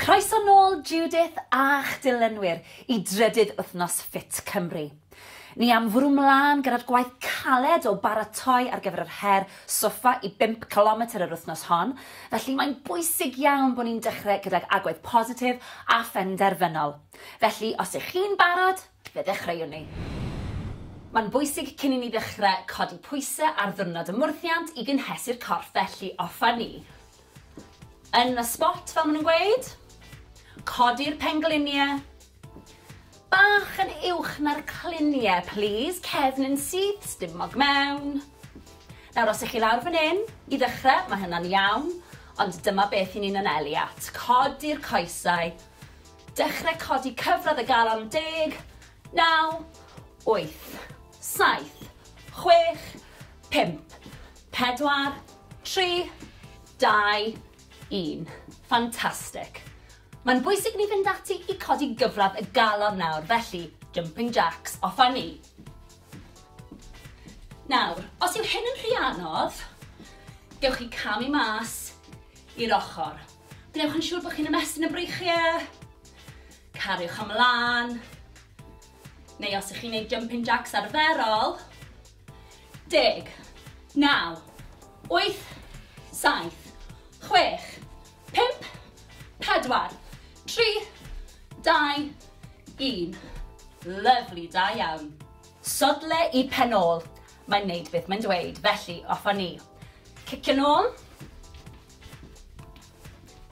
Croeso nôl Judith a'ch dilynwyr i drydydd wythnos Fit Cymru. Ni am fwrw mlaen gyda'r gwaith caled o baratoi ar gyfer yr her soffa i bump cilometr yr wythnos hon, felly mae'n bwysig iawn bod ni'n dechrau gydag agwedd positif a phenderfynol. Felly, os ych chi'n barod, fe ddechreuwn ni. Mae'n bwysig cyn i ni ddechrau codi pwysau ar ddiwrnod y mwrthiant i gynhesu'r corff felly offa ni. Yn y spot fel ma' nhw'n gweud. Codi'r penglinie bach yn uwch na'r clinie plîs, cefn yn syth, stumog mewn. Nawr os 'ych chi lawr fan 'yn, i ddechre, ma' hynna'n iawn, ond dyma beth 'yn ni'n anelu at, codi'r coesau, dechre codi cyfradd y galon yn deg, naw, wyth. Saith. Chwech. Pump. Pedwar. Tri. Dau. Un. Fantastic. Mae'n bwysig ni fynd ati i codi gyfradd y galon nawr, felly jumping jacks, off â ni. Nawr, os yw hyn yn rhy anodd, gewch chi camu mas i'r ochr. Gwnewch yn siŵr bod chi'n ymestyn y breichiau, cariwch ymlaen, Neu os ych chi'n neud jumping jacks arferol. Deg. Naw. Wyth. Saith. Chwech. Pump. Pedwar. Tri. Dau. Un. Lyfli, da iawn. Sodle i pen ôl. Mae'n neud beth mae'n dweud, felly off â ni. Cicio nôl.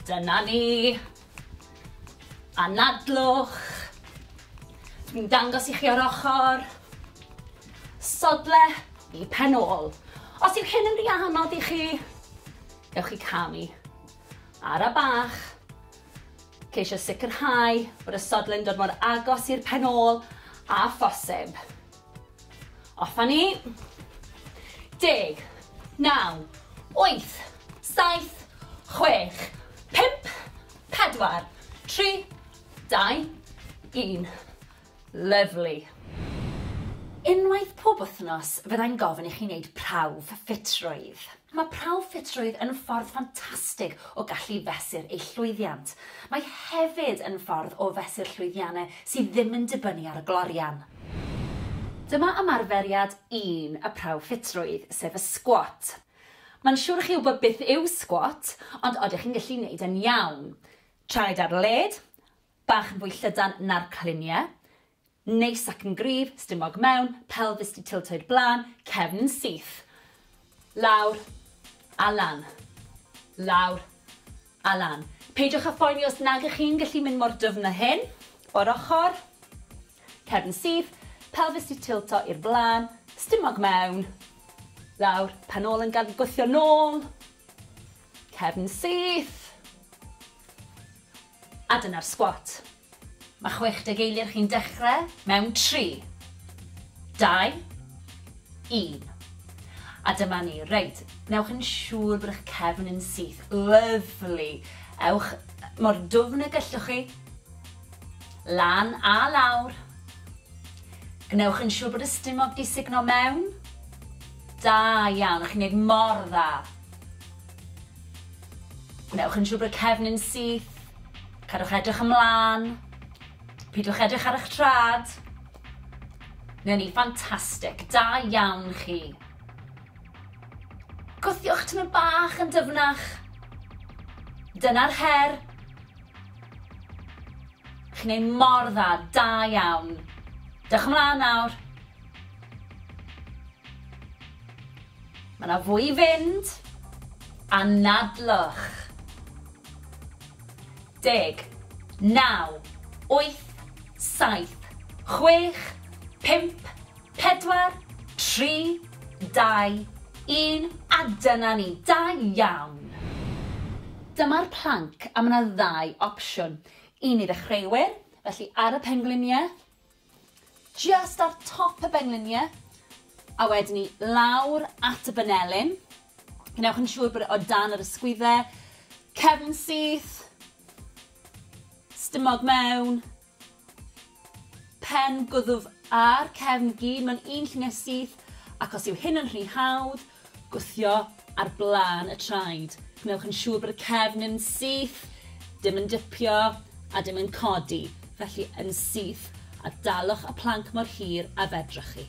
Dyna ni. Anadlwch. Dwi'n dangos i chi o'r ochr. Sodle i pen ôl. Os yw hyn yn rhy anodd i chi, gewch chi camu. Ara bach. Ceisio sicrhau bod y sodle'n dod mor agos i'r pen ôl a phosib. Off a ni. Deg. Naw. Wyth. Saith. Chwech. Pump. Pedwar. Tri. Dau. Un. Lyfli. Unwaith pob wythnos fyddai'n gofyn i chi wneud prawf ffitrwydd. Mae prawf ffitrwydd yn ffordd ffantastig o gallu fesur eich llwyddiant. Mae hefyd yn ffordd o fesur llwyddiannau sydd ddim yn dibynnu ar y glorian. Dyma ymarferiad un y prawf ffitrwydd, sef y sgwat. Mae'n siwr i chi wybod beth yw sgwat, ond odych chi'n gallu neud e'n iawn? Traed ar led, bach yn fwy llydan na'r cliniau, Neis ac yn gryf, stumog mewn, pelfis 'di tiltoi'r blaen, cefn yn syth. Lawr a lan. Lawr a lan. Peidiwch â phoeni os nag ych chi'n gallu mynd mor dyfn â hyn. O'r ochr. Cefn yn syth, pelfis 'di tilto i'r blaen, stumog mewn. Lawr, pen ôl yn gad gwthio nôl. Cefn yn syth. A dyna'r sgwat. Mae 60 eiliad chi'n dechrau mewn 3, 2, 1. A dyma ni. Reit, newch yn siŵr bod eich cefn yn syth. Lyfli. Ewch mor dwfn y gellwch chi. Lan a lawr. Gwnewch yn siŵr bod y stumog di signo mewn. Da iawn, chi'n neud mor dda. Gwnewch yn siŵr bod cefn yn syth. Cadwch edrych ymlaen. Pidwch edrych ar eich trad. Newn ni, ffantastig. Da iawn chi. Gwthiwch tymor bach yn dyfnach. Dyna'r her. Chi'n ei mor dda, da iawn. Dewch ymlaen nawr. Mae 'na fwy i fynd. Anadlwch. Deg. Naw. Wyth. Saith. Chwech. Pump. Pedwar. Tri. Dau. Un. A dyna ni. Da iawn! Dyma'r planc a mae 'na ddau opsiwn. Un i ddechreuwyr, felly ar y pengliniau, Jyst ar top y bengliniau a wedyn ni lawr at y banelin. Gwnewch yn siŵr bod e o dan yr ysgwyddau. Cefn syth. Stumog mewn. Pen gwddf a'r cefn gyd mewn un lluniau syth ac os yw hyn yn rhy hawdd, Gwthio ar blaen y traed. Gwnewch yn siŵr bod y cefn yn syth, dim yn dipio a dim yn codi, felly yn syth, a dalwch y planc mor hir a fedrwch chi.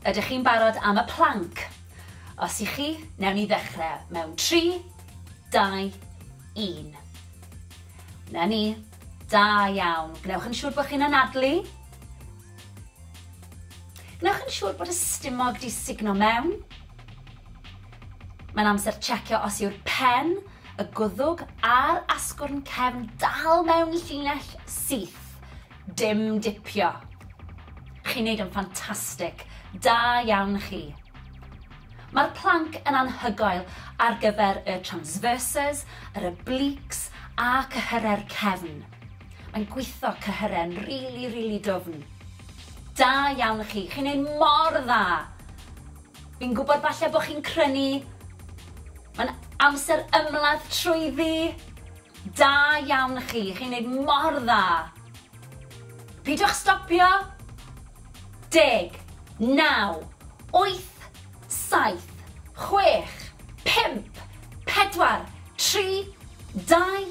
Ydych chi'n barod am y planc? Os y'ch chi, newn ni ddechrau mewn tri, dau, un. 'Na ni. Da iawn. Gwnewch yn siŵr bod chi'n anadlu. Gwnewch yn siŵr bod y stumog 'di sugno mewn. Mae'n amser checio os yw'r pen, y gwddwg a'r asgwrn cefn dal mewn llinell syth. Dim dipio. Chi'n neud yn ffantastig. Da iawn chi. Mae'r planc yn anhygoel ar gyfer y transverses, yr obliques a cyhyrau'r cefn. Mae'n gwitho cyhyren rili rili dwfn. Da iawn i chi, chi'n neud mor dda! Fi'n gwybod falle bod chi'n crynu, mae'n amser ymladd trwyddi! Da iawn i chi, chi'n neud mor dda! Peidiwch stopio! Deg, naw, wyth, saith, chwech, pump, pedwar, tri, dau,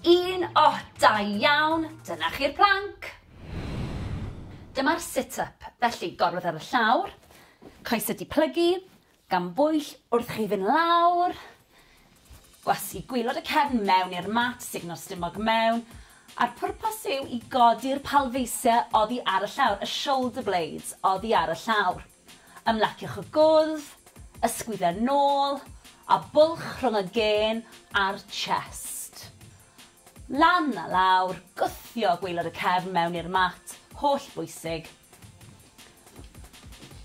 Un oh da iawn! Dyna chi'r plank! Dyma'r sit up, felly gorwedd ar y llawr, coesau di plygu, gan bwyll wrth chi fynd lawr, gwasgu gwylod y cefn mewn i'r mat, sugno'r stumog mewn, a'r pwrpas yw i godi'r palfeisiau oddi ar y llawr, y shoulder blades oddi ar y llawr. Ymlaciwch y gwddf, ysgwyd a nôl, a bwlch rhwng y gên a'r chest. Lan a lawr, gwthio gwaelod y cefn mewn i'r mat, holl bwysig.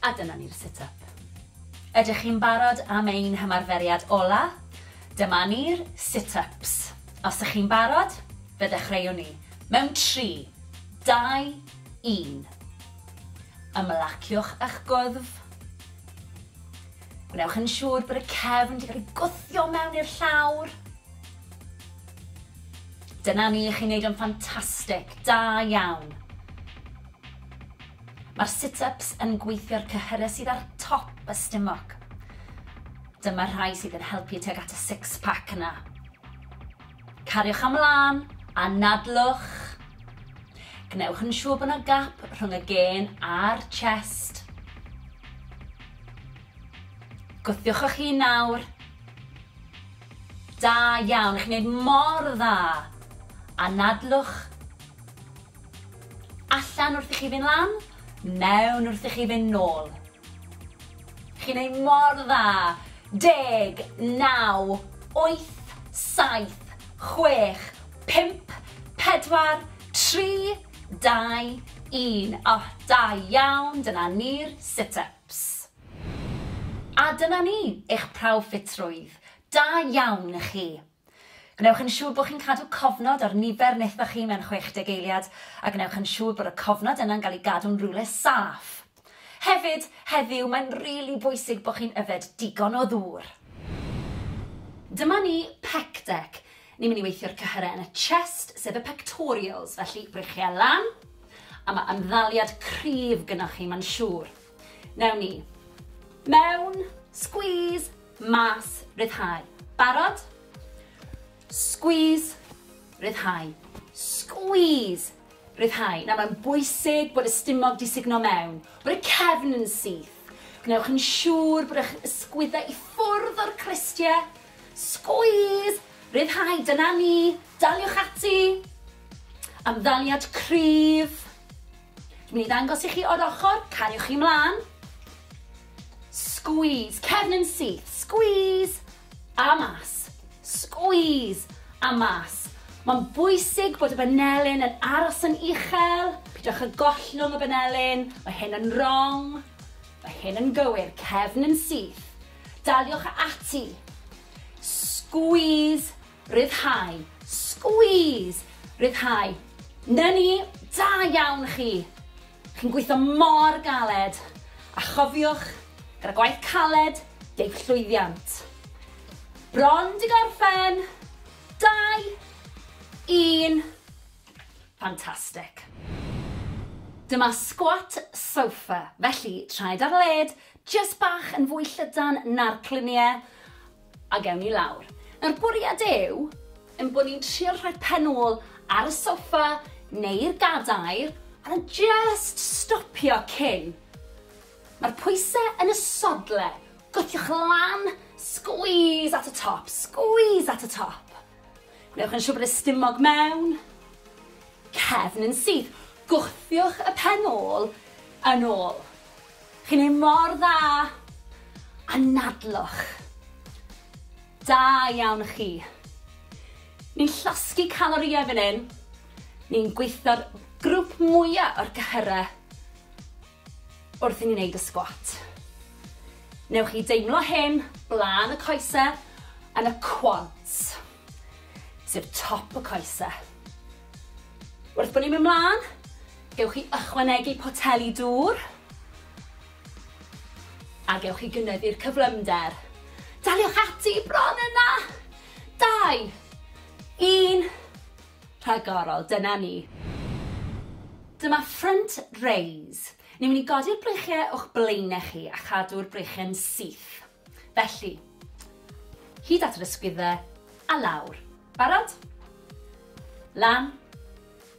A dyna ni'r sit up. Ydych chi'n barod am ein hymarferiad ola? Dyma ni'r sit ups. Os ych chi'n barod, fe ddechreuwn ni. Mewn tri, dau, un. Ymlaciwch â'ch gwddf. Gwnewch yn siŵr bod y cefn wedi cael ei gwthio mewn i'r llawr. Dyna ni, chi'n neud o'n ffantastig, da iawn. Mae'r sit-ups yn gweithio'r cyhyrau sydd ar top y stumog. Dyma'r rhai sydd yn helpu tuag at y six-pack yna. Cariwch am lân, anadlwch. Gwnewch yn siŵr bod yna gap rhwng y gên a'r chest. Gwthiwch eich hun nawr. Da iawn, chi'n gwneud mor dda. Anadlwch. Allan wrth i chi fynd lan, mewn wrth i chi fynd nôl. Chi'n neud mor dda! Deg, naw, wyth, saith, chwech, pump, pedwar, tri, dau, un. O, da iawn, dyna ni'r sit-ups. A dyna ni, eich prawf ffitrwydd. Da iawn i chi. Gwnewch yn siŵr bod chi'n cadw cofnod ar nifer netho chi mewn 60 eiliad, a gwnewch yn siŵr bod y cofnod yna'n cael ei gadw'n rywle saff. Hefyd, heddiw, mae'n rili bwysig bod chi'n yfed digon o ddŵr. Dyma ni, Pec Deck. Ni'n mynd i weithio'r cyhyrau yn y chest, sef y pectorials, felly, breichiau lan, a mae ymddaliad cryf gynnoch chi, mae'n siŵr. Newn ni. Mewn, squeeze, mas, ryddhau. Barod? Squeeze, ryddhau. Squeeze, ryddhau. Nawr mae'n bwysig bod y stumog di sugno mewn, bod y cefn yn syth. Gwnewch yn siŵr bod eich ysgwyddau i ffwrdd o'r cristiau. Squeeze, ryddhau, dyna ni, daliwch ati. Amddaliad cryf. Dwi'n mynd i ddangos i chi o'r ochr, cariwch chi mlaen. Squeeze, cefn yn syth, squeeze, a mas, squeeze, a mas. Mae'n bwysig bod y banelyn yn aros yn uchel, pidwch â gollwng y banelyn, mae hyn yn wrong, mae hyn yn gywir, cefn yn syth. Daliwch ati. Squeeze Rhyddhau. Squeeze! Rhyddhau. 'Na ni! Da iawn chi! Chi'n gweithio mor galed! A chofiwch, gyda gwaith caled, deiff llwyddiant. Bron 'di gorffen! Dau! Un! Fantastic! Dyma squat sofa, felly traed ar led, jyst bach yn fwy llydan na'r clunie, A gewn ni lawr. Nawr bwriad yw ein bod ni'n trio rhoi pen ôl ar y soffa neu'r gadair a just stopio cyn. Mae'r pwysau yn y sodle, gwthiwch lan, squeeze at y top, squeeze at y top. Gwnewch yn siŵr bod y stumog mewn, cefn yn syth, gwthiwch y pen ôl yn ôl. Chi'n neud mor dda! Anadlwch! Da iawn chi! Ni'n llosgi calorïau fan hyn, ni'n gweithio'r grwp mwya o'r cyhyrau wrth i ni neud y sgwat. Newch chi deimlo hyn blaen y coesau yn y quads. sef top y coese. Wrth bod ni'n mynd mlaen, gewch chi ychwanegu poteli dŵr a gewch chi gynyddu'r cyflymder. Daliwch ati bron yna! Dau, un, rhagorol, dyna ni. Dyma front raise. Ni'n mynd i godi'r breichiau o'ch blaenau chi a chadw'r breichiau'n syth. Felly, hyd at yr ysgwyddau, a lawr. Barod? Lan,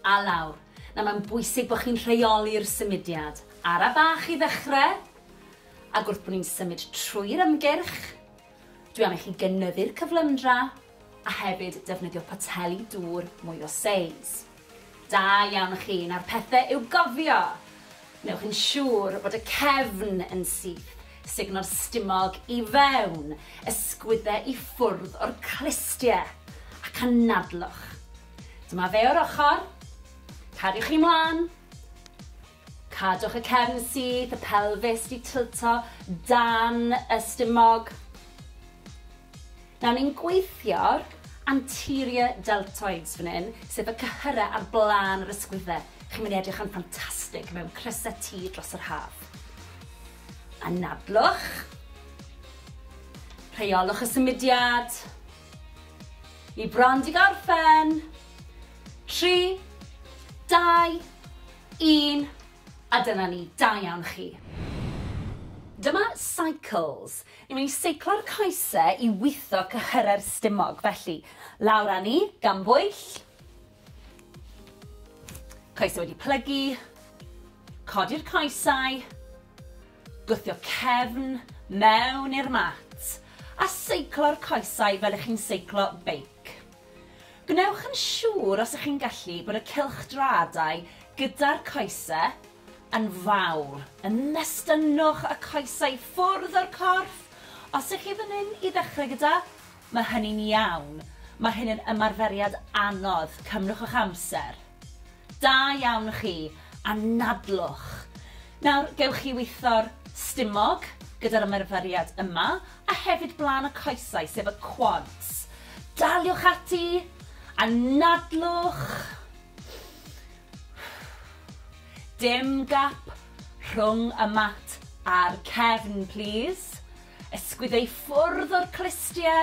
a lawr. Nawr mae'n bwysig bod chi'n rheoli'r symudiad. Ara bach i ddechrau, ac wrth bod ni'n symud trwy'r ymgyrch, dwi am i chi gynyddu'r cyflymdra a hefyd defnyddio poteli dŵr mwy o seis. Da iawn chi, nawr pethe i'w gofio! Wnewch yn siŵr bod y cefn yn syth, sugno'r stumog i fewn, ysgwydde i ffwrdd o'r clustie, ac anadlwch. Dyma fe o'r ochr. Cariwch chi mlan. Cadwch y cefn syth, y pelfis 'di tilto dan y stumog. Nawr ni'n gweithio'r anterior deltoids fan hyn, sef y cyhyrau ar blaen yr ysgwydde. Chi'n mynd i edrych yn ffantastig mewn crysau T dros yr haf. Anadlwch. Rheolwch y symudiad. Ni bron 'di gorffen. Tri, dau, Un, a dyna ni, da iawn chi. Dyma Cycles. Ni'n mynd i seiclo'r coese i witho cyhyrau'r stumog, felly, lawr â ni, gan bwyll. Coesau wedi plygu. Codi'r coesau. Gwthio cefn mewn i'r mat. A seiclo'r coesau fel ych chi'n seiclo beic. Gwnewch yn siŵr os ych chi'n gallu bod y cylchdraadau gyda'r coese yn fawr, yn nestynnwch y coesau i ffwrdd o'r corff, os ych chi fan hyn i ddechrau gyda, mae hynny'n iawn, mae hyn yn ymarferiad anodd, cymrwch eich amser. Da iawn chi, anadlwch. Nawr, gewch chi weithio'r stumog gyda'r ymarferiad yma, a hefyd blaen y coesau, sef y quads. Daliwch ati! Anadlwch! Dim gap rhwng y mat a'r cefn, plis. Ysgwyddo i ffwrdd o'r clustie.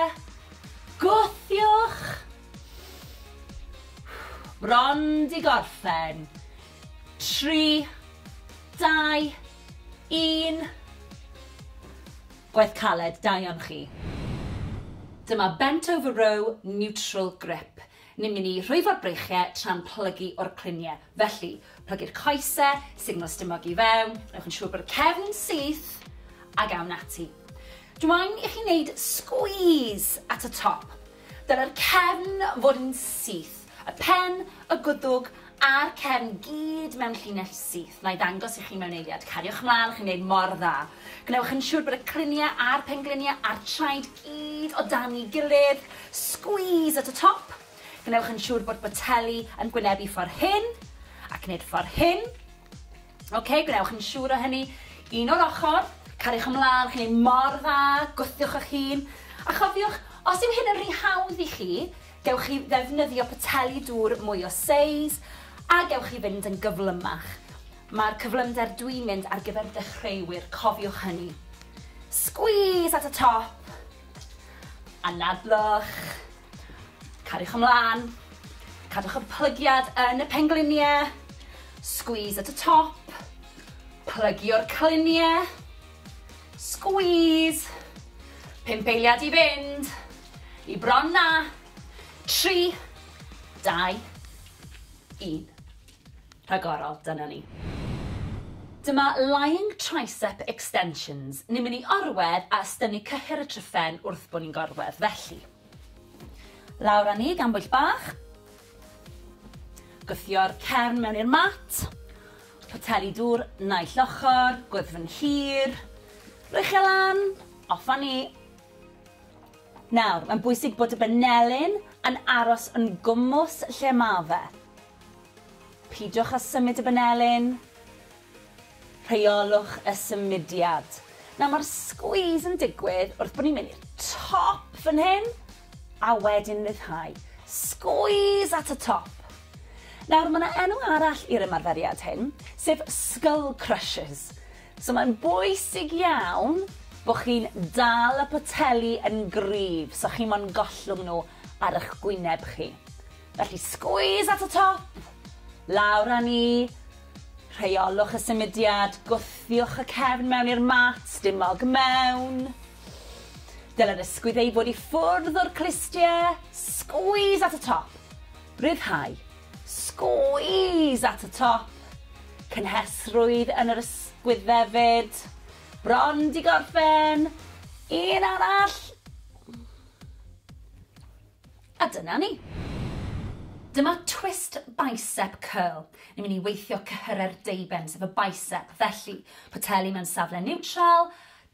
Gwthiwch! Bron 'di gorffen. Tri, dau, un. Gwaith caled, da iawn chi. Dyma bent over row neutral grip. Ni'n mynd i rhwyfo'r breichiau tra'n plygu o'r cluniau. Felly, plygu'r coesau, signal stumog i fewn, newch yn siŵr bod y cefn yn syth, ac awn ati. Dw i'n i chi wneud squeeze at y top. Dylai'r cefn fod yn syth, y pen, y gwddwg a'r cefn gyd mewn llinell syth. Na'i ddangos i chi mewn eiliad. Cariwch mlaen, chi'n gwneud mor dda. Gwnewch yn siŵr bod y cliniau a'r pengliniau a'r traed gyd o dan'i gilydd. Squeeze at y top. Gwnewch yn siŵr bod boteli yn gwynebu ffordd hyn, ac wneud ffordd hyn. Ok, gwnewch yn siŵr o hynny. Un o'r ochr, cariwch ymlaen, chi'n ei mor dda, gwthiwch eich hun. A chofiwch, os yw hyn yn rhy hawdd i chi, gewch chi ddefnyddio poteli dŵr mwy o seis, a gewch chi fynd yn gyflymach. Mae'r cyflymder dwi'n mynd ar gyfer dechreuwyr, cofiwch hynny. Squeeze at y top, anadlwch. Cariwch ymlaen. Cadwch y plygiad yn y pengliniau. Squeeze at y top. Plygio'r cliniau. Squeeze. Pump eiliad i fynd. I bron na. Tri. Dau. Un. rhagorol, dyna ni. Dyma Lying Tricep Extensions, ni'n mynd i orwedd a ystynnu cyhyr y tryphen wrth bod ni'n gorwedd, felly. Lawr â ni gan bwyll bach. Gwthio'r cefn mewn i'r mat. Poteli dŵr naill ochr, gwddfn hir. Rwy'ch e lan, off â ni. Nawr, mae'n bwysig bod y benelin yn aros yn gwmws lle mae fe. Peidiwch â symud y banelin. Rheolwch y symudiad. Nawr mae'r squeeze yn digwydd wrth bod ni'n mynd i'r top fan hyn a wedyn ryddhau. Squeeze at y top. Nawr mae yna enw arall i'r ymarferiad hyn, sef skull crushes. So mae'n bwysig iawn bod chi'n dal y poteli yn gryf so chi mo'n gollwng nhw ar eich gwyneb chi. Felly squeeze at y top, lawr â ni, rheolwch y symudiad, gwthiwch y cefn mewn i'r mat, dim mog mewn. Dylai'r ysgwydd ei fod i ffwrdd o'r clustiau, squeeze at y top, rhyddhau, squeeze at y top, cynhesrwydd yn yr ysgwydd hefyd, bron di gorffen, un arall, A dyna ni! Dyma twist bicep curl. Ni'n mynd i weithio cyhyrau'r deuben, sef y bicep. Felly, poteli mewn safle niwtral,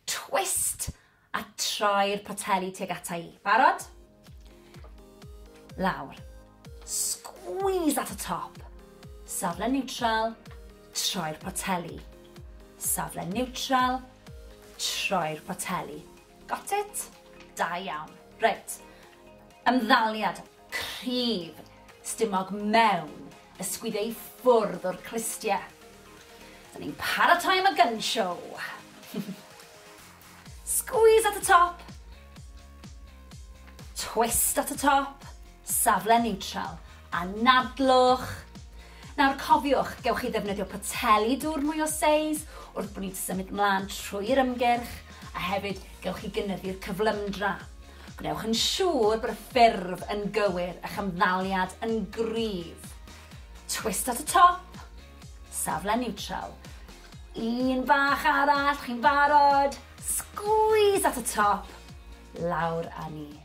twist, a troi'r poteli tuag ata i. Barod? Lawr. Squeeze at y top. Safle niwtral, troi'r poteli. Safle niwtral, troi'r poteli. Got it? Da iawn. Reit. Ymddaliad cryf stumog mewn ysgwyd ei ffwrdd o'r clustie. Dyn ni'n paratoi am y gun show. Squeeze at y top. Twist at y top. Safle neutral. Anadlwch. Nawr cofiwch, gewch chi ddefnyddio poteli dŵr mwy o seis wrth bo ni'n symud mlan trwy'r ymgyrch, a hefyd gewch chi gynyddu'r cyflymdra. Gwnewch yn siŵr bod y ffurf yn gywir, a'ch ymddaliad yn gryf. Twist at y top, safle niwtral. Un bach arall, chi'n barod? Sgwîs at y top, lawr â ni.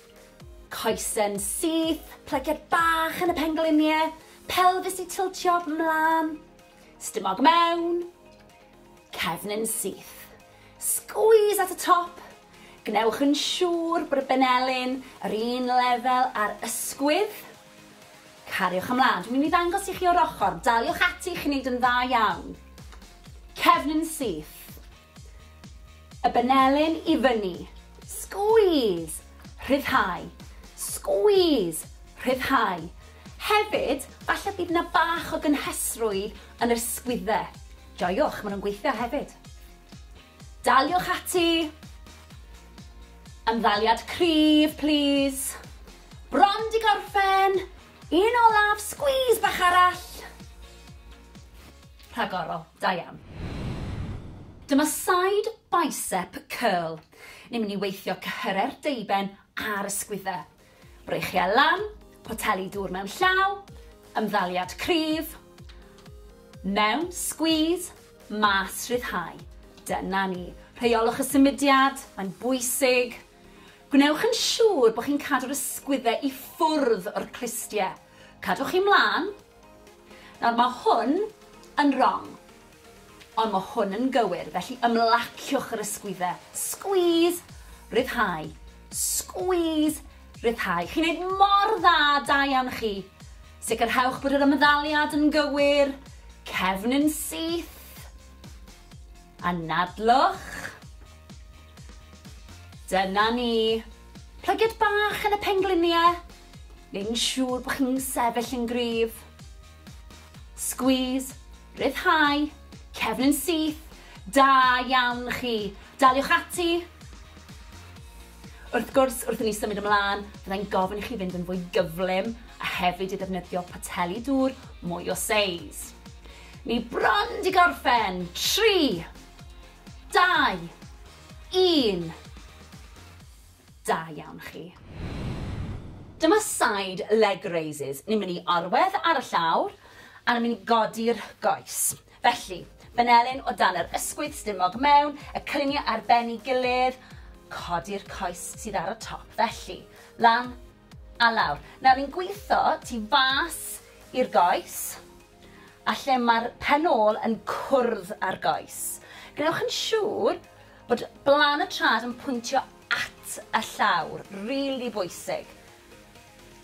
Coesyn syth, plygiad bach yn y pengliniau, pelfis i tiltio 'mlan, stumog mewn, cefnyn syth. Squeeze at y top, gwnewch yn siŵr bod y benelin yr un lefel â'r ysgwydd. Cariwch ymlaen. Dwi'n mynd i ddangos i chi o'r ochr. Daliwch ati, chi'n neud yn dda iawn. Cefnyn syth. Y benelin i fyny. Squeeze! Rhyddhau. Squeeze! Rhyddhau. Hefyd, falle bydd yna bach o gynhesrwydd yn yr sgwydde. Joiwch, maen nhw'n gweithio hefyd. Daliwch ati. Ymddaliad cryf, plîs. Bron di gorffen. Un olaf, squeeze bach arall. Rhagorol. Da iawn. Dyma side bicep curl. Ni'n mynd i weithio cyhyrau'r deuben a'r ysgwydde. Breichiau lan, poteli dŵr mewn llaw, ymddaliad cryf, mewn, squeeze, mas, rhyddhau. Dyna ni. Rheiolwch y symudiad, mae'n bwysig. Gwnewch yn siŵr bod chi'n cadw'r ysgwydde i ffwrdd o'r clustiau. Cadwch chi mlaen, Nawr mae hwn yn rong. Ond mae hwn yn gywir, felly ymlaciwch yr ysgwyddau. Squeeze! Rhyddhau. Squeeze! Rhyddhau. Chi'n neud mor dda, da iawn chi. Sicrhewch bod yr ymddaliad yn gywir. Cefn yn syth. Anadlwch. Dyna ni. Plygiad bach yn y pengliniau. neu'n siŵr bod chi'n sefyll yn gryf. Squeeze, rhyddhau, cefn yn syth, da iawn chi. Daliwch ati. Wrth gwrs, wrth i ni symud ymlaen, byddai'n gofyn i chi fynd yn fwy gyflym a hefyd i ddefnyddio poteli dŵr mwy o seis. Ni bron di gorffen. 3, 2, 1. Da iawn chi. Dyma side leg raises. Ni'n mynd i orwedd ar y llawr a ni'n mynd i godi'r goes. Felly, benelin o dan yr ysgwydd stumog mewn, y cylunia ar ben i gilydd, codi'r coes sydd ar y top. Felly, lan a lawr. Nawr ni'n gwitho tu fas i'r goes. a lle mae'r pen ôl yn cwrdd â'r goes. Gwnewch yn siŵr bod blaen y trad yn pwyntio at y llawr, rili really bwysig.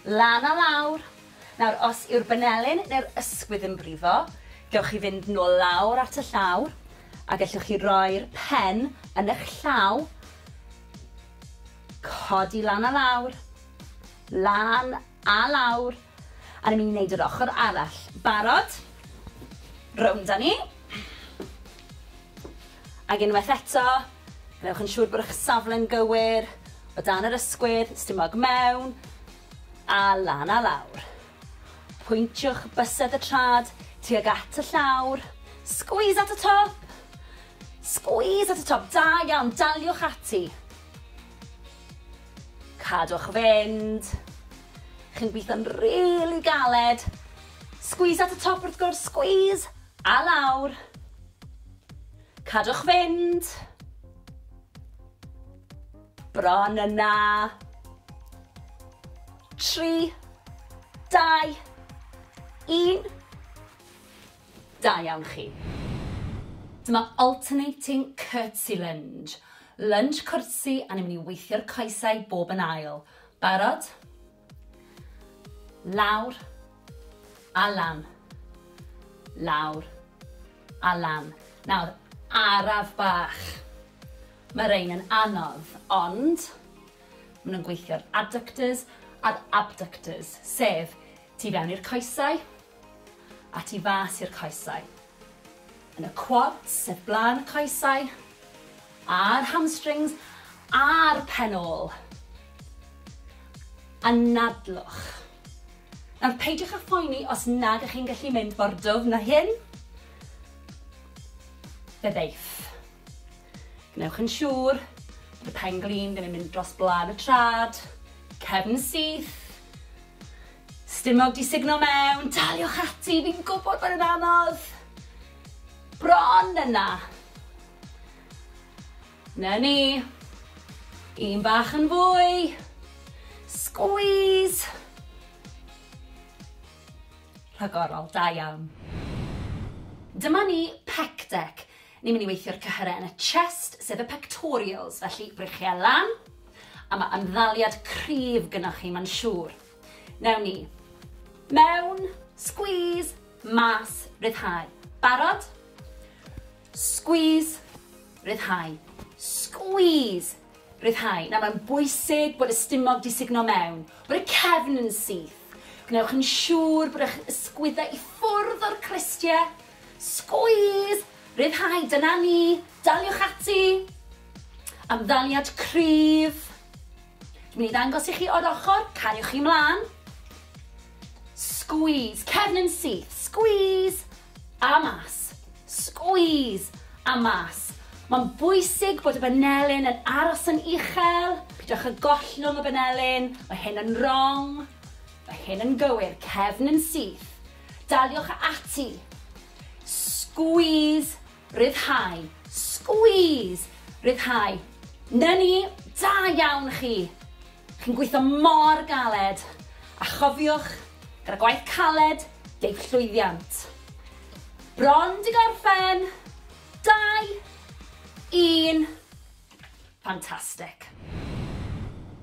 Lan a lawr. Nawr, os yw'r benelin neu'r ysgwydd yn brifo, gewch chi fynd nôl lawr at y llawr, a gellwch chi roi'r pen yn eich llaw, codi lan a lawr, lan a lawr, A ni'n mynd i wneud yr ochr arall. Barod? Rownd â ni. Ac unwaith eto, gwnewch yn siŵr bod eich safle'n gywir, o dan yr ysgwydd, stumog mewn, a lan a lawr. Pwyntiwch bysedd y trad tuag at y llawr. Squeeze at y top! Squeeze at y top, da iawn, daliwch ati. Cadwch fynd. Chi'n gweithio'n rili galed. Squeeze at y top wrth gwrs, squeeze! A lawr. Cadwch fynd. Bron yna. Tri, dau, un. Da iawn chi. Dyma alternating curtsy lunge. Lunch cwrtsi a ni'n mynd i weithio'r coesau bob yn ail. Barod? Lawr. A lan. Lawr. A lan. Nawr, araf bach. Mae rhain yn anodd, ond maen nhw'n gweithio'r adductors a'r abductors, sef tu fewn i'r coesau, a tu fas i'r coesau. Yn y quads sef blaen y coesau, a'r hamstrings a'r pen ôl. Anadlwch. Nawr peidiwch â phoeni os nad ych chi'n gallu mynd mor dwfn na hyn. Fe ddeiff. Gwnewch yn siŵr bod y pen glin ddim yn mynd dros blaen y trad, cefn syth, Stumog 'di sugno mewn! Daliwch ati, fi'n gwybod bod e'n anodd! Bron yna! Na ni! Un bach yn fwy! Squeeze! Rhagorol, da iawn. Dyma ni, pec deck. Ni'n mynd i weithio'r cyhyrau yn y chest, sef y pectorials, felly brichiau lan, a mae ymddaliad cryf gynnwch chi, mae'n siŵr. Newn ni. Mewn, squeeze, mas, ryddhau. Barod? Squeeze, ryddhau. Squeeze, ryddhau. Nawr mae'n bwysig bod y stumog di sugno mewn, bod y cefn yn syth. Gwnewch yn siŵr bod eich ysgwyddau i ffwrdd o'r cristiau. Squeeze, ryddhau, dyna ni, daliwch ati. Amddaliad cryf. Dwi'n mynd i ddangos i chi o'r ochr, cariwch chi mlaen. Squeeze, cefn yn syth, squeeze, a mas, squeeze, a mas. Mae'n bwysig bod y banelyn yn aros yn uchel, pidwch y gollwng y banelyn, mae hyn yn wrong, mae hyn yn gywir, cefn yn syth. Daliwch ati. Squeeze Rhyddhau. Squeeze! Rhyddhau. 'Na ni! Da iawn chi! Chi'n gweithio mor galed! A chofiwch, gyda gwaith caled, deiff llwyddiant. Bron 'di gorffen! Dau! Un! Fantastic!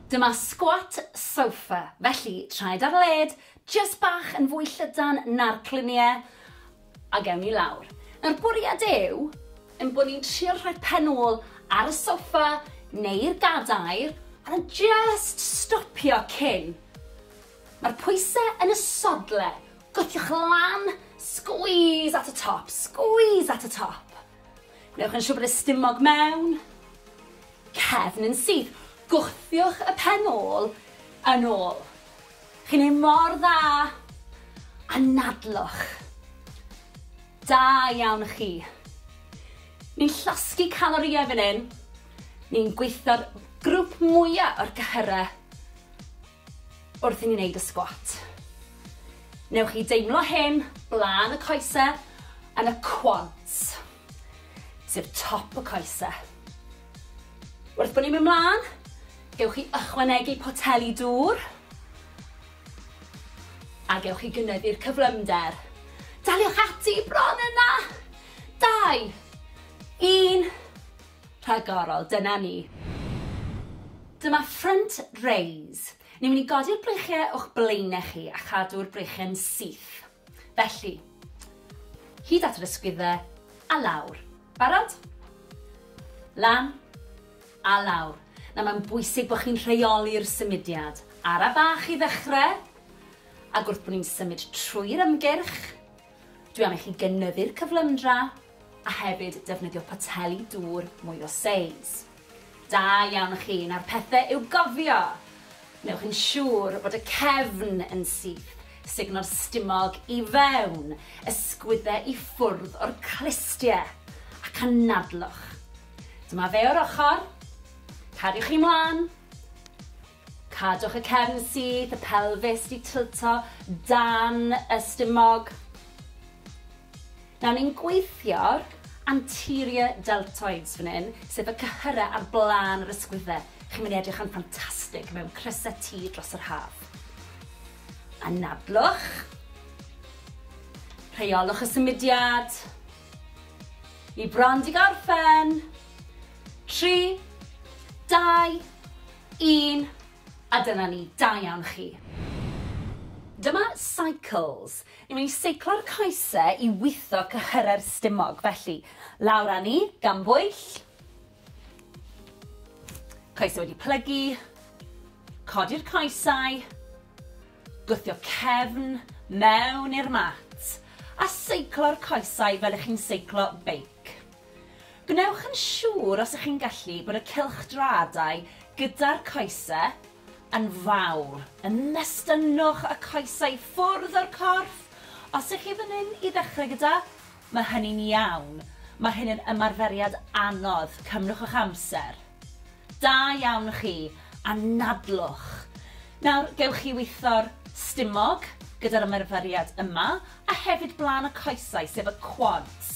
Dyma squat sofa, felly traed ar led, jyst bach yn fwy llydan na'r clunie, Ac ewn ni lawr. Nawr, bwriad yw ein bod ni'n trio rhoi pen ôl ar y soffa neu'r gadair a jyst stopio cyn. Mae'r pwysau yn y sodle, gwthiwch lan, squeeze at y top, squeeze at y top. Newch yn siŵr bod y stumog mewn, cefn yn syth, gwthiwch y pen ôl yn ôl. Chi'n neud mor dda! Anadlwch! Da iawn chi! Ni'n llosgi calorïau fan hyn, ni'n gweithio'r grŵp mwya o'r cyhyrau wrth i ni neud y sgwat. Newch chi deimlo hyn blaen y coesau yn y quads. sef top y coese. Wrth bod ni'n mynd mlaen, gewch chi ychwanegu poteli dŵr a gewch chi gynyddu'r cyflymder. Daliwch ati bron yna! Dau, un, rhagorol, dyna ni. Dyma front raise. Ni'n mynd i godi'r breichiau o'ch blaenau chi a chadw'r breichiau'n syth. Felly, hyd at yr ysgwyddau, a lawr. Barod? Lan, a lawr. Nawr mae'n bwysig bod chi'n rheoli'r symudiad. Ara bach i ddechrau, ac wrth bod ni'n symud trwy'r ymgyrch, dwi am i chi gynyddu'r cyflymdra a hefyd defnyddio poteli dŵr mwy o seis. Da iawn chi, nawr pethe i'w gofio! Wnewch yn siŵr bod y cefn yn syth, sugno'r stumog i fewn, ysgwydde i ffwrdd o'r clustie, ac anadlwch. Dyma fe o'r ochr. Cariwch chi mlan. Cadwch y cefn syth, y pelfis 'di tilto dan y stumog. Nawr ni'n gweithio'r anterior deltoids fan hyn, sef y cyhyrau ar blaen yr ysgwydde. Chi'n mynd i edrych yn ffantastig mewn crysau T dros yr haf. Anadlwch. Rheolwch y symudiad. Ni bron di gorffen. Tri, dau, Un, a dyna ni, da iawn chi. Dyma Cycles. Ni'n mynd i seiclo'r coese i witho cyhyrau'r stumog, felly, lawr â ni, gan bwyll. Coesau wedi plygu. Codi'r coesau. Gwthio cefn mewn i'r mat. A seiclo'r coesau fel ych chi'n seiclo beic. Gwnewch yn siŵr os ych chi'n gallu bod y cylchdraadau gyda'r coese yn fawr, yn nestynnwch y coesau i ffwrdd o'r corff, os ych chi fan hyn i ddechrau gyda, mae hynny'n iawn, mae hyn yn ymarferiad anodd, cymrwch eich amser. Da iawn chi, anadlwch. Nawr, gewch chi witho'r stumog gyda'r ymarferiad yma, a hefyd blaen y coesau, sef y quads.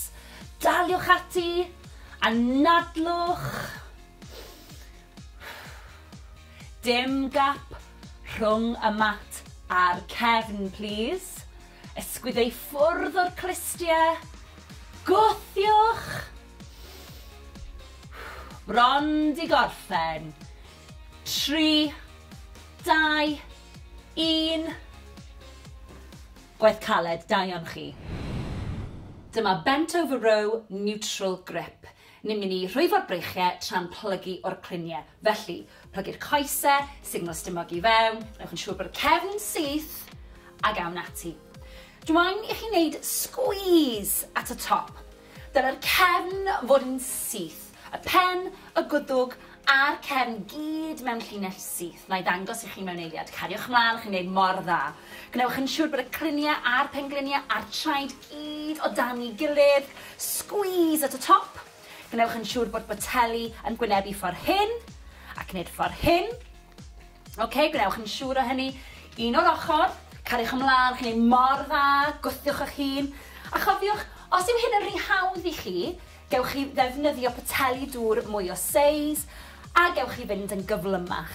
Daliwch ati! Anadlwch! Dim gap rhwng y mat a'r cefn, plis. Ysgwydde i ffwrdd o'r clustiau. Gwthiwch! Bron 'di gorffen. Tri, dau, un. Gwaith caled, da iawn chi. Dyma bent over row neutral grip. Ni'n mynd i rhwyfo'r breichiau tra'n plygu o'r cluniau. Felly, plygu'r coesau, signal stumog i fewn, newch yn siŵr bod y cefn syth, a gawn ati. Dwa'n i chi wneud squeeze at y top. Dylai'r cefn fod yn syth, y pen, y gwddwg a'r cefn gyd mewn llinell syth. Wna i ddangos i chi mewn eiliad. Cariwch mlaen, chi'n gwneud mor dda. Gwnewch yn siŵr bod y cliniau a'r pengliniau a'r traed gyd o dan ei gilydd. Squeeze at y top. Gwnewch yn siŵr bod boteli yn gwynebu ffordd hyn ac wneud ffordd hyn. Ok, gwnewch yn siŵr o hynny. Un o'r ochr, cariwch ymlaen, chi'n ei mor dda, gwthiwch eich hun. A chofiwch, os yw hyn yn rhy hawdd i chi, gewch chi ddefnyddio poteli dŵr mwy o seis, a gewch chi fynd yn gyflymach.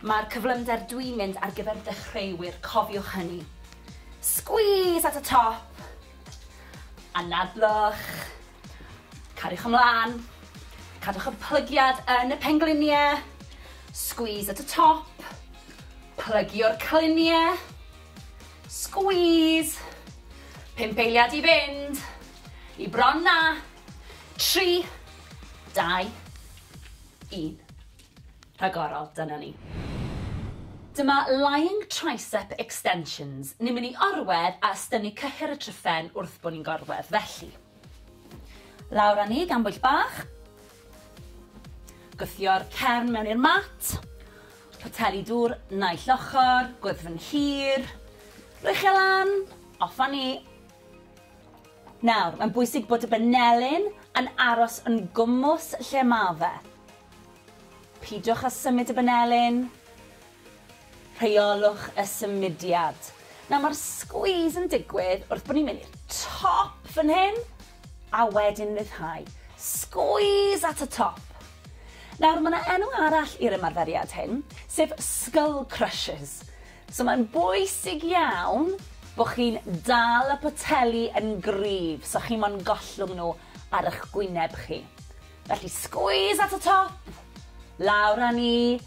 Mae'r cyflymder dwi'n mynd ar gyfer dechreuwyr, cofiwch hynny. Squeeze at y top, anadlwch. Cariwch ymlaen. Cadwch y plygiad yn y pengliniau. Squeeze at y top. Plygio'r cliniau. Squeeze. Pump eiliad i fynd. I bron na. Tri. Dau. Un. rhagorol, dyna ni. Dyma Lying Tricep Extensions, ni'n mynd i orwedd a ystynnu cyhyr y tryphen wrth bod ni'n gorwedd, felly. Lawr â ni gan bwyll bach. Gwthio'r cefn mewn i'r mat. Poteli dŵr naill ochr, gwddfn hir. Rwy'ch e lan, off â ni. Nawr, mae'n bwysig bod y benelin yn aros yn gwmws lle mae fe. Peidiwch â symud y banelin. Rheolwch y symudiad. Nawr mae'r squeeze yn digwydd wrth bod ni'n mynd i'r top fan hyn a wedyn ryddhau. Squeeze at y top. Nawr mae yna enw arall i'r ymarferiad hyn, sef skull crushes. So mae'n bwysig iawn bod chi'n dal y poteli yn gryf so chi mo'n gollwng nhw ar eich gwyneb chi. Felly squeeze at y top, lawr â ni,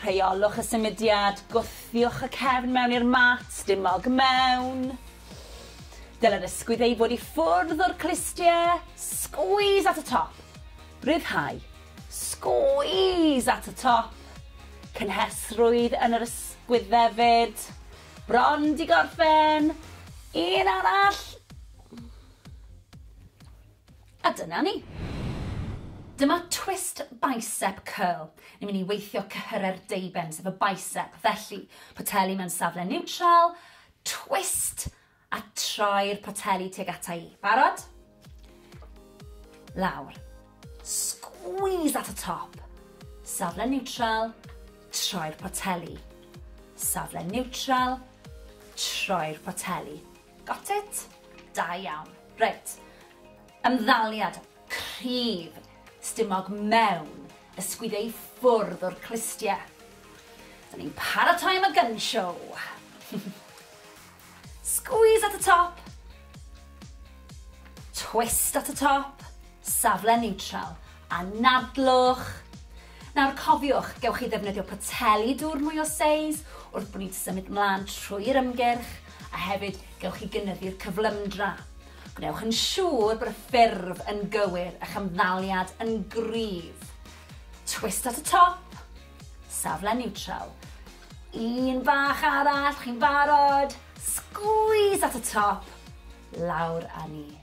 rheolwch y symudiad, gwthiwch y cefn mewn i'r mat, dim mog mewn. Dylai'r ysgwydd ei fod i ffwrdd o'r clustiau, squeeze at y top, rhyddhau, squeeze at y top, cynhesrwydd yn yr ysgwydd hefyd, bron di gorffen, un arall, A dyna ni! Dyma twist bicep curl. Ni'n mynd i weithio cyhyrau'r deuben, sef y bicep. Felly, poteli mewn safle niwtral, twist, a troi'r poteli tuag ata i. Barod? Lawr. Squeeze at y top. Safle niwtral, troi'r poteli. Safle niwtral, troi'r poteli. Got it? Da iawn. Reit. Ymddaliad cryf stumog mewn ysgwyd ei ffwrdd o'r clustie. Dyn ni'n paratoi am y gun show. Squeeze at y top. Twist at y top. Safle neutral. Anadlwch. Nawr cofiwch, gewch chi ddefnyddio poteli dŵr mwy o seis wrth bod ni'n symud mlaen trwy'r ymgyrch, a hefyd gewch chi gynyddu'r cyflymdra. Gwnewch yn siŵr bod y ffurf yn gywir, a'ch ymddaliad yn gryf. Twist at y top, safle niwtral. Un bach arall, chi'n barod? Sgwîs at y top, lawr â ni.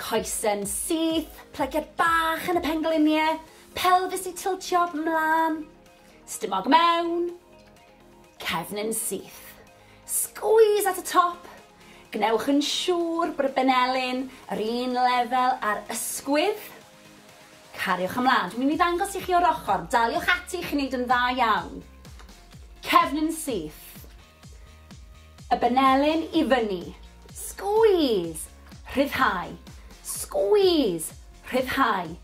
Coesyn syth, plygiad bach yn y pengliniau, pelfis i tiltio mlaen, stumog mewn, cefnyn syth. Squeeze at y top. Gwnewch yn siŵr bod y benelin yr un lefel ar ysgwydd. Cariwch ymlaen. Dwi'n mynd i ddangos i chi o'r ochr. Daliwch ati, chi'n neud yn dda iawn. Cefnyn syth. Y benelin i fyny. Squeeze! Rhyddhau. Squeeze! Rhyddhau.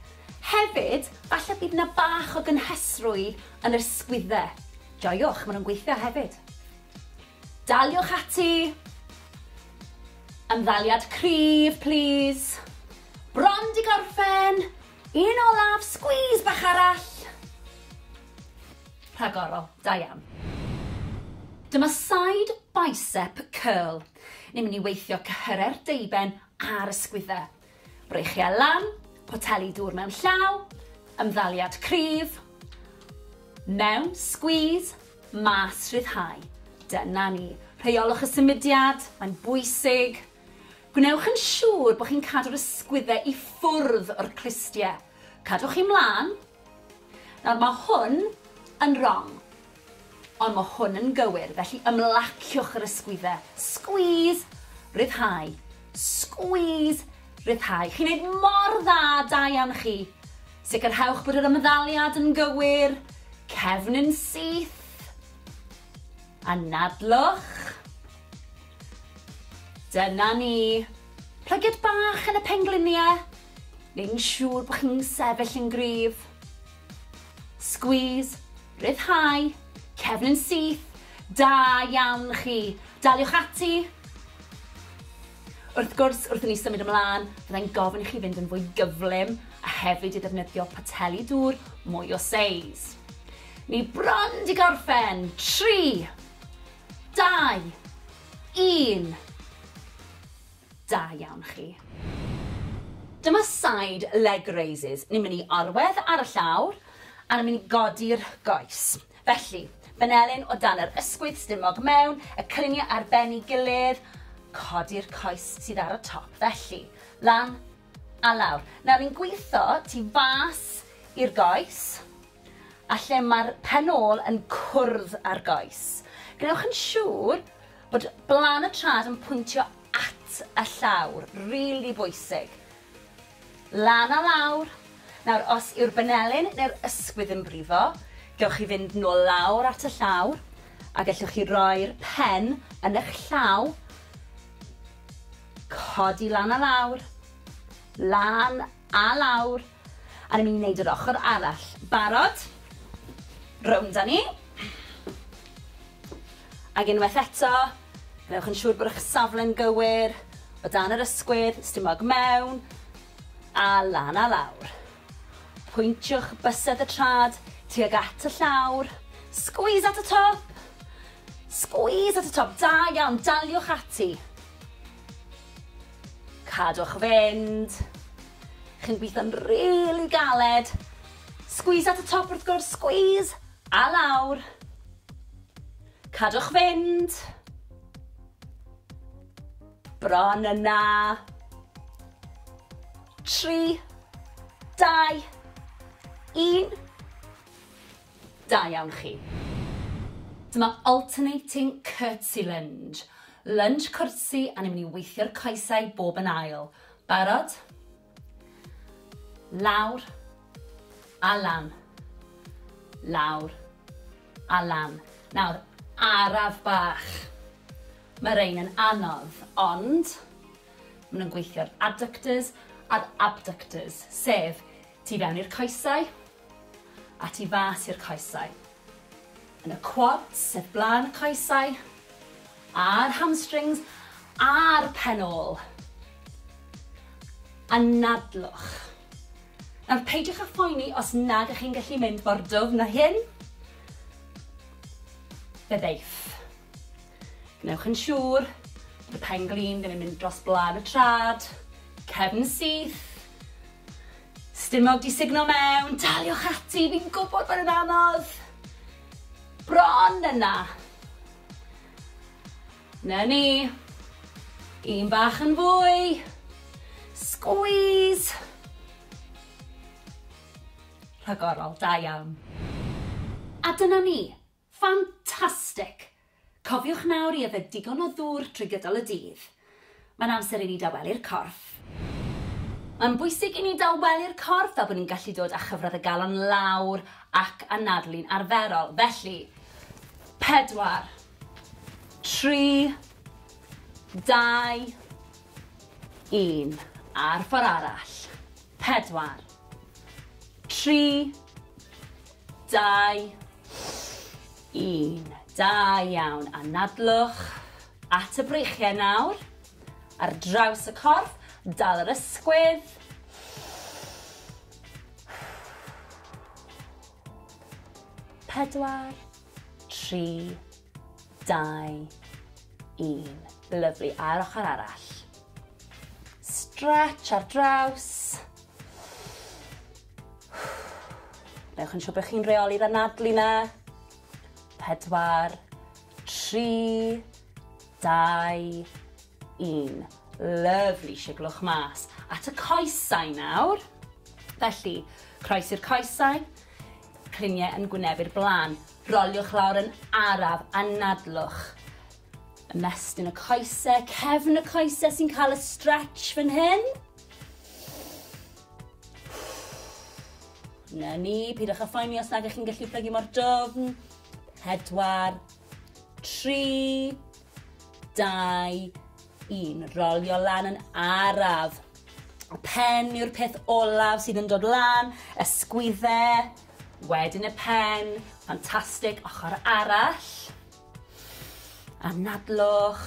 Hefyd, falle bydd yna bach o gynhesrwydd yn yr sgwydde. Joiwch, maen nhw'n gweithio hefyd. Daliwch ati. Ymddaliad cryf, plîs. Bron di gorffen! Un olaf, squeeze bach arall. Rhagorol, da iawn. Dyma side bicep curl. Ni'n mynd i weithio cyhyrau'r deuben a'r ysgwyddau. Breichiau lan, poteli dŵr mewn llaw, ymddaliad cryf, mewn, squeeze, mas, rhyddhau. Dyna ni. Rheiolwch y symudiad, mae'n bwysig. Gwnewch yn siŵr bod chi'n cadw'r ysgwyddau i ffwrdd o'r clustiau. Cadwch chi mlaen. Nawr, mae hwn yn wrong. Ond mae hwn yn gywir, felly ymlaciwch yr ysgwyddau. Squeeze, ryddhau. Squeeze, ryddhau. Chi'n neud mor dda, da iawn chi. Sicrhewch bod yr ymddaliad yn gywir. Cefn yn syth. Anadlwch. Dyna ni! Plygiad bach yn y penglinie, neu'n siŵr bod chi'n sefyll yn gryf. Squeeze, rhyddhau, cefn yn syth, da iawn chi! Daliwch ati! Wrth gwrs, wrth i ni symud ymlaen, fyddai'n gofyn i chi fynd yn fwy gyflym a hefyd i ddefnyddio poteli dŵr mwy o seis. Ni bron 'di gorffen! Tri! Dau! Un! Da iawn chi. Dyma side leg raises. Ni'n mynd i orwedd ar y llawr a ni'n mynd i godi'r goes. Felly, benelin o dan yr ysgwydd, stumog mewn, y cyniau ar ben ei gilydd, codi'r coes sydd ar y top. Felly, lan a lawr. Nawr, ni'n gwitho tu fas i'r goes. a lle mae'r pen ôl yn cwrdd â'r goes. Gwnewch yn siŵr bod blaen y trad yn pwyntio at y llawr, rili really bwysig. Lan a lawr. Nawr, os yw'r benelin neu'r ysgwydd yn brifo, gewch chi fynd nôl lawr at y llawr, a gellwch chi roi'r pen yn eich llaw, codi lan a lawr, lan a lawr, A ni'n mynd i wneud yr ochr arall. Barod? Rownd â ni. Ac unwaith eto, gwnewch yn siŵr bod eich safle'n gywir, o dan yr ysgwydd, stumog mewn, a lan a lawr. Pwyntiwch bysedd y trad tuag at y llawr. Squeeze at y top! Squeeze at y top, da iawn, daliwch ati. Cadwch fynd. Chi'n gweithio'n rili galed. Squeeze at y top wrth gwrs, squeeze! A lawr. Cadwch fynd. Bron yna. Tri, dau, un. Da iawn chi. Dyma alternating curtsy lunge. Lunch cwrtsi a ni'n mynd i weithio'r coesau bob yn ail. Barod? Lawr a lan. Lawr a lan. Nawr, araf bach. Mae rhain yn anodd, ond maen nhw'n gweithio'r adductors a'r abductors, sef Tu fewn i'r coesau, a tu fas i'r coesau. Yn y quads, sef blaen y coesau, a'r hamstrings, a'r pen ôl. Anadlwch. Nawr, peidiwch â phoeni os nad ych chi'n gallu mynd mor dwfn â hyn. Fe ddeith. Gwnewch yn siŵr bod y pen glin ddim yn mynd dros blân y trad, cefn syth, stumog di sugno mewn, daliwch ati, fi'n gwybod bod yn anodd. Bron yna. Na ni. Un bach yn fwy. Squeeze. Rhagorol, da iawn. A dyna ni, Ffantastig! Cofiwch nawr i yfed digon o ddŵr trwy gydol y dydd. Mae'n amser i ni dawelu'r corff. Mae'n bwysig i ni dawelu'r corff fel bod ni'n gallu dod â chyfradd y galon lawr ac anadlu'n arferol. Felly, pedwar, tri, dau, un. A'r ffordd arall. Pedwar, tri, Dau, un. Da iawn. Anadlwch at y breichiau nawr. Ar draws y corff, dal yr ysgwydd. Pedwar, tri, dau, un. Lyflu. A'r ochr arall. Stretch ar draws. Newch yn siŵr bod chi'n rheoli'r anadlu na. Pedwar, tri, dau, un. Lyfli, siglwch mas. At y coesau nawr. Felly, croes i'r coesau, cliniau yn gwynebu'r blaen. Roliwch lawr yn araf, anadlwch. Ymestyn y coesau, cefn y coesau sy'n cael y stretch fan hyn. Na ni, pidwch â phoeni os nag ych chi'n gallu plygu mor dofn. Pedwar, tri, dau, un. Rolio lan yn araf. Y pen yw'r peth olaf sydd yn dod lan, ysgwydde, wedyn y pen, ffantastig, ochr arall. Anadlwch,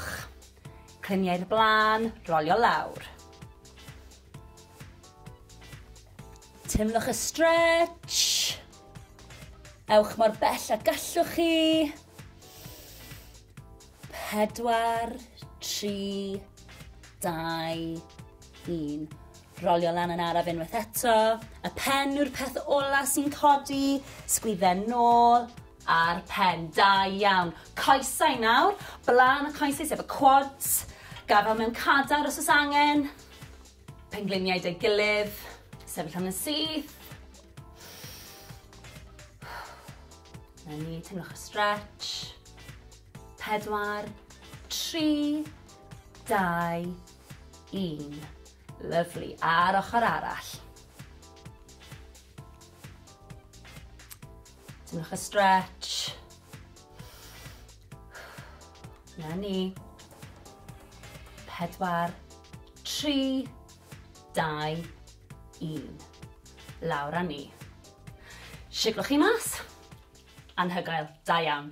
cliniau'r blaen, rolio lawr. Teimlwch y stretch. Ewch mor bell a gallwch chi. Pedwar, tri, dau, un. Rolio lan yn araf unwaith eto. Y pen yw'r peth ola sy'n codi. Sgwydden nôl a'r pen. Da iawn. Coesau nawr. Blaen y coesau sef y quads. Gafel mewn cadar os oes angen. Pengliniau 'da'i gilydd, sefyll am yn syth. Na ni, teimlwch y stretch. Pedwar, tri, dau, un. Lyflu, a'r ochr arall. Teimlwch y stretch. Na ni. Pedwar, tri, dau, un. Lawr a ni. Siglwch chi mas. Anhygoel. Da iawn.